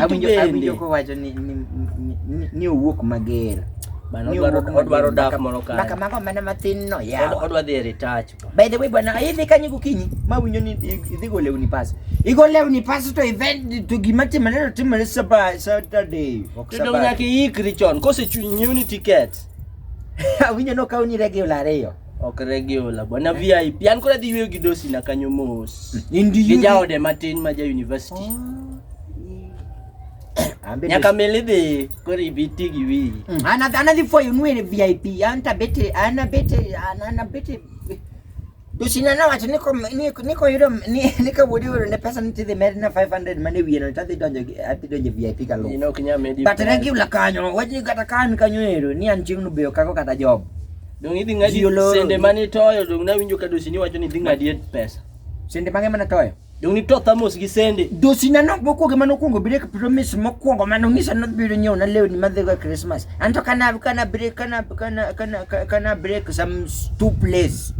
awinjo kowacho ni ni owuok mager odwaro dak moro kare maka mago mana matin no yawa odwa dhi e retouch by the way bwana idhi kanyo gokinyi ma winjo ni idhi go lewni pas igo lewni pas to event to gima timore to timore saturday ok saturday to nyaka iikri chon kose nyiew ni tickets awinjo nokaw ni regi ola ariyo Ok regular bwana VIP. An kora dhi yweyo gi dosi na kanyo mos. Indi Gi jaode matin ma ja university. Ambe Nyaka meli dhi koro ibiti gi wi. Ana ana dhi fo yunwe ne VIP. Anta bete ana bete ana ana bete. Dosi na na wacho niko niko niko yudo ni niko wodi wodi ne pesa nitidhi med na 500 mane wiye no tadhi donjo gi- adhi donjo VIP ka lo. Ino kinya medi. But regular kanyo wajni kata kan kanyo ero ni an chieng' no beyo kako kata job. Dong idhi ng'adi Ji oloro. sende mane itoyo dong nawinjo ka dosini wacho ni idhi ng'adi e pesa. Sende mang'e mana toyo. Dong nito thamos gi sende. Dosina no mokwongo mane okwongo break promise mokwongo mane ong'isa ni odhi biro nyiewo na lewni madhigo e Christmas. An to kana kana break kana kana kana ka- kana break some s- two plates.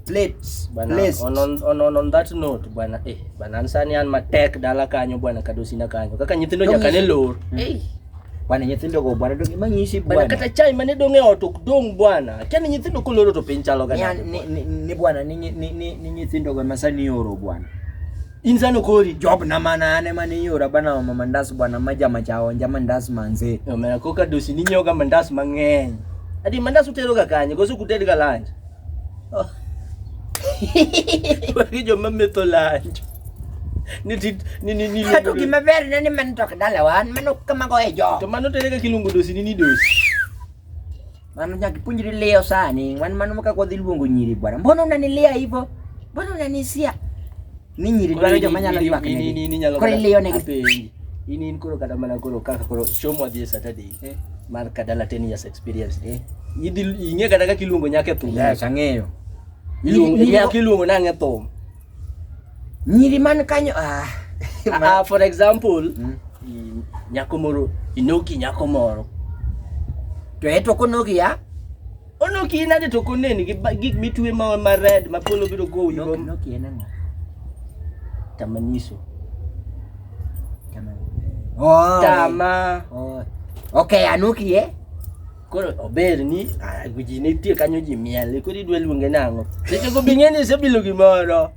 Plates. Bana, Plates. on, on, on, on, on that note bwana eh bana an sani an matek dala kanyo bwana kadosina kanyo kaka nyithindo Dong nyaka ne is- lor Hey. Bwana nyithindo go bwana donge manyisi bwana. Bwana kata chai mane donge ot ok dong bwana. Kani nyithindo koloro to piny chalo ga. Ni ni ni bwana ni ni ni nyithindo go masani oro bwana. Inzano kori. Job na mana ane mane yora bana wa mandas bwana maja machao nja mandas manze. Yo mera koka dosi ni nyoga mandas mang'eny. Adi mandas utero ga kanye gosu kutedi ga lunch. Wagi joma metho lanj. Ni tit ni ni ni. Kato gima ber ne ni man tok dala wan mano kama go e jo. To mano tere ka kilungu dosi ni ni dosi. Mano nyaki punjiri leo sani, wan mano maka kwa dhiluongo nyiri bwana. Mbona unanilia hivyo? Mbona unanisia? Ni nyiri dwaro joma nyalo ywak ne. Ni ni nyalo. Koro iliyo ne penji. In in koro kata mana koro kaka koro chomo adhi Saturday. Eh? Mar kadala 10 years experience. Eh? Idhi ing'e kata kaka iluongo nyaka e thum. Yes, ang'eyo. Iluongo nyaka iluongo nang' e thum. Nyiri man kanyo ah. Ah, for example, mm. nyako moro inoki nyako moro to eto konogi ya Ono ki nade to koneni gi ba- gik mitwe ma ma red ma polo biro gowi go. Nok- Noki en ang'o? Tamaniso. Tama. Oh. Tama. Oh. Okay, anuki eh? Koro ober ni ah, ji nitie kanyo ji miel koro idwa luonge nang'o. Seche go bing'e ni isebilo gimoro.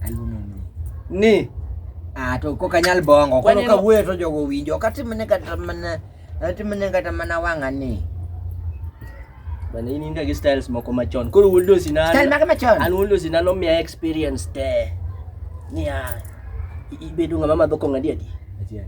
Aluonge ni. Ni Ah, to kok anyal bongo. Koro Waneno- kawuoyo to jogo winjo. Ok atim ne kata mana Ati mane kata mana wanga ni. Bana ini nda gi styles moko machon. Koro wundo sina. Style maka machon. An wundo sina no mia experience te. Nia ibedo ngama madho kong adi adi.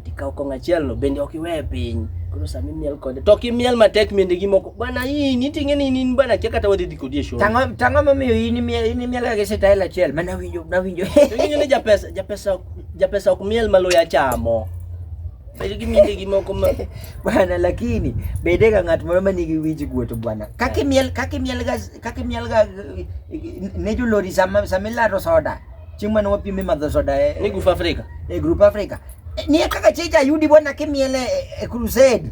Ti kaw kong achiel no bende ok iwe piny. Koro sami miel kode. To ki miel matek mende gi moko. Bana hii ni tinge ni nin bana kia kata wadhi diko die show. Tango tango mamiyo ini miel ini miel ga gese style achiel. Mana winjo na winjo. Tinge ni japesa japesa japesa ok miel maloya chamo. Bedo gi minde gi moko ma bwana, lakini bede ga ng'at moro ma nigi wich guoto bwana. Kaki miel kaki miel ga kaki miel ga ne jo lori sama sama laro soda. Chieng' mane wapime madho soda e ni Group Africa. E Group Africa. Ni kaka cheja yudi bwana kimiele e crusade.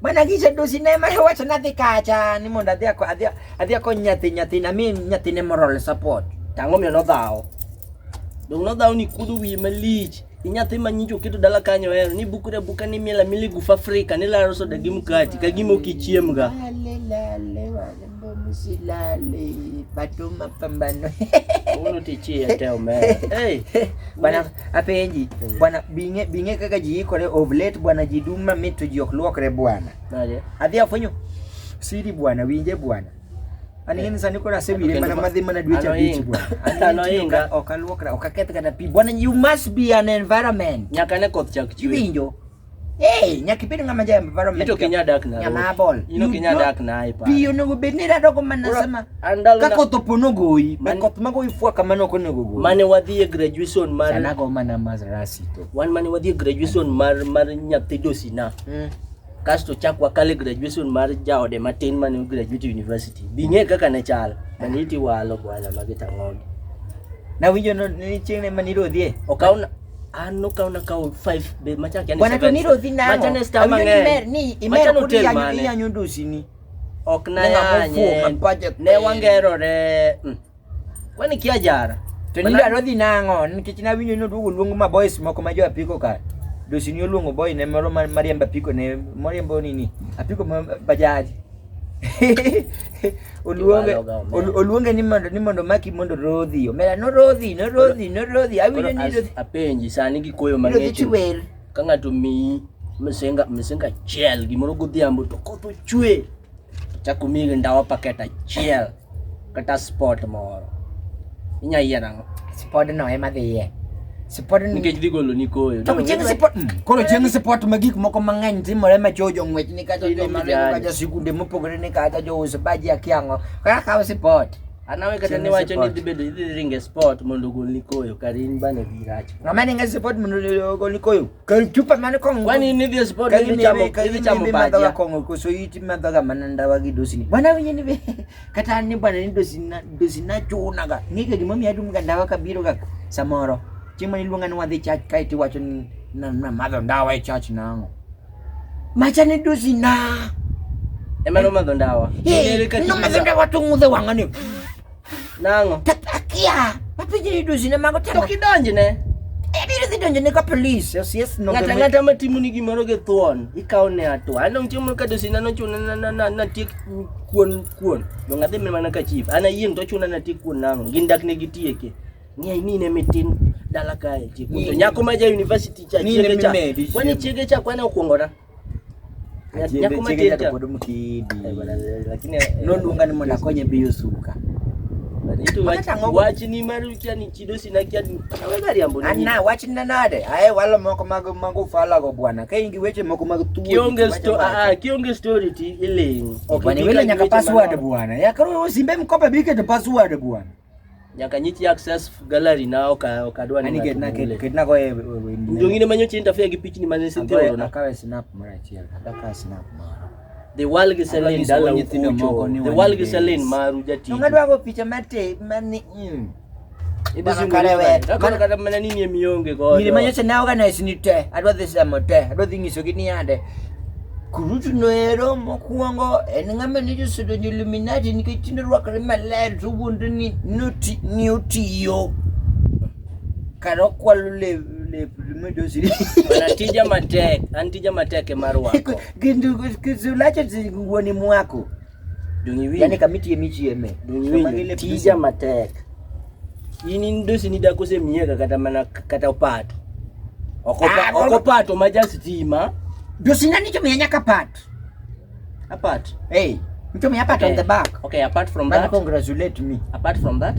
Mana gise do sinema he wacho nadhi kacha ni mondo adhi adhi adhi akony nyathi nyathi na mi nyathi ne moral support. Tango mi nodhawo. Dong nodhawo ni kudu wi malich. Ni nyathi ma nyinjo keto dala kanyo hero ni bukure buka ni miela mili gufa Afrika ni laro soda gi mkati ka gimo kichiemga. Msilale bado mapambano. Uno tichie te omera. Hey, bwana apenji. Bwana binge binge kaka jiikore of late bwana jiduma mitu jiok luokre bwana. Nade? Adhi afonyo. Siri bwana winje bwana. Ani eh. sani kora sewire mana madhi mana dwe cha bich bwana. Ano inga okaluokra okaketh kana pi. Bwana you must be an environment. Nyaka ne koth chak chwe. Winjo. Hey, nyakibedo ng'ama ja environment. Ito kinya dak na. Ng'ama bol. Ino kinya dak na ipa. Piyo no bed ni rado ko mana sama. Ka koth opono goyi, be koth mago ifua kama no kono gogo. Mane wadhi e graduation mar Sana go mana mazrasi to. Wan mane wadhi e graduation mar mar nyathi dosina. Mm. Kasto chak wakale graduation mar jaode matin mane graduate university. Bing'e kaka ne chal. Mane iti walo bwana magita ng'ogi. Na winjo no ni chieng' ne maniro dhie. Okaw Ano ka una kao 5 be macha kiani. Bwana to niro dhi namo. Macha ne sta mang'eny. Ni imer kudi yanyo yanyo dosini. Ok na yanye. Ne wangerore. Mm. Kwani kia jara. To ni daro dhi nang'o nikech na winyo no duogo luongo ma boys moko ma jo apiko ka. Dosini oluongo boy ne moro mariemba apiko ne moriembo nini? Apiko bajaji. oluonge oluonge ni mondo ni mondo maki mondo rodhi omera no rodhi no rodhi no rodhi awinjo ni rodhi apenji sani gi koyo mang'ich ka ng'ato miyi misenga misenga achiel gimoro godhiambo to koth ochwe chako miyi ndawa paket achiel kata sport moro inya yie nang'o sport no ema dhiye sport nikech dhi golo ni koyo to chieng sport hmm. koro chieng sport ma gik moko mang'eny timore ma cho jong'wech ni kata joma ringo kata sikunde mopogore ni kata jouso baji akiang'o kaka kawo sport anawe kata ni wacho ni dhi bedo idhi ringe sport mondo ogol ni koyo kar in bane dhi rach ng'ama ninge sport mondo ogol ni koyo Kanchupa mane kong. Kwani ni this body ni ni chamo kani ni chamo ba. Kani kong ko so yiti ma daga mananda wagi dosini. Bwana wenye ni be. Kata ni bwana ni dosina dosina chuna ga. Ni ga jimami adu mga dawa ka biro ga samoro. Chima ni lunga ni wadhi chach kai ti wacho ni na na madho dawa e chach na ngo. Macha ni dosina. Ema no madho dawa. Ni ni ka. No madho dawa tungudhe wangani. Nang'o? Akia. Mapinje ni dozi ne mago tama. To kidonjne. Ebiro dhi donjo ne ka police. Yes, yes, no. Ngata ngata matimo ni gimoro gi thuon. Ikaw ne atwa. Ano chiemo ka dozi na no chuna na na na na tiek kuon kuon. Do ngadhi me mana ka chief. Ana yiem to chuna na tiek kuon nang'o. Gin dak ne gitieke. Ng'e ni ne mitin dala kae. Tiek. To nyako ma ja university cha chiege cha. Wani chiege cha kwana okuongora. noluonga ni mondo akonye biyo suka ana wachna nade aye walo moko mag mag ufalago bwana ka in gi weche moko mag thuokionge ah, ah, story ti iling' bwana iwilo nyaka password bwana yakoro simbe mkope biketo password bwana nyaka nyi chi access gallery na oka okadwa ni get na get na go e jongine manyo chi interfere gi pichni mane sin tero na kawe snap mara achiel kata ka snap mara the wall gi selin dala nyithindo moko ni the wall gi selin maru jati ngadwa go picha mate mani mm kata mana nini emionge godo nyiri manyocha ne organize ni te adwa dhi semo te adwa dhi nyisogi ni yande Kurutu noero mokwongo en ng'ama ne josedonjo Illuminati nikech tinde rwakore maler to wuondo ni noti ni otiyo kar okwalo lep lep medosi An tija matek, an tija matek e mar wako. kendo kisulacho wuoni mwako yani kamiti yemi chieme dongiwinjo tija matek in in dosi ni dako se miega kata mana kata opato okopa ah, okopato maja sitima dosi nani cho mianya kapat apat hey mcho mi apat okay. on the back okay apart from that congratulate me apart from that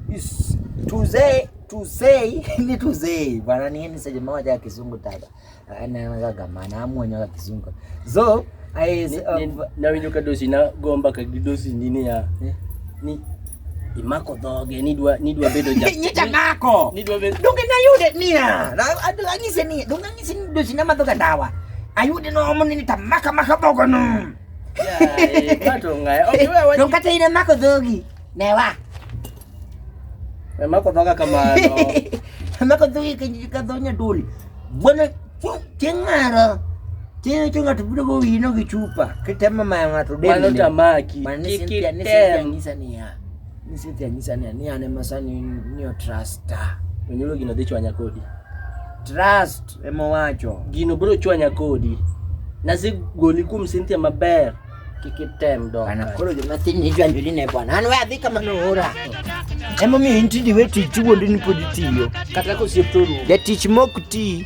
is to say to say ni to say bwana ni ni sema moja ya kizungu tada anagamana ah, amwonyoga kizungu so nawe nyoka dosi nagomba kagidosi nini ya eh? ni imako dhoge nidwa nidwa bedo ja nyita mako nidwa bedo donge na yude nia adwa ngise ni donge ngise ni dosi na madhoga dawa ayude no omo ni tamaka maka bogo no ya eh, kato ngai okay wewe donge kata ina mako dhogi newa Mamako toka kamano. Mamako dhogi ka dho nyadoli. Bwana chieng' mara Tini tu ng'ato biro gowi no gi chupa kitemo mayo ng'ato deni. Mano tamaki. Mano ni Cynthia ni Cynthia nyisa niya. Ni Cynthia nyisa niya ni an ema sani ni otrasta. Onyulo gino dhi chwanya kodi. Trust ema wacho. Gino biro chwanya kodi. Nasegoli kuom Cynthia maber. kikitemdo anakolo jomatini jwanjo line bwana an we adhi kama noora emomiyo intindi we tich wuondi ni pod itiyo kata kosiep toru jatich mok tii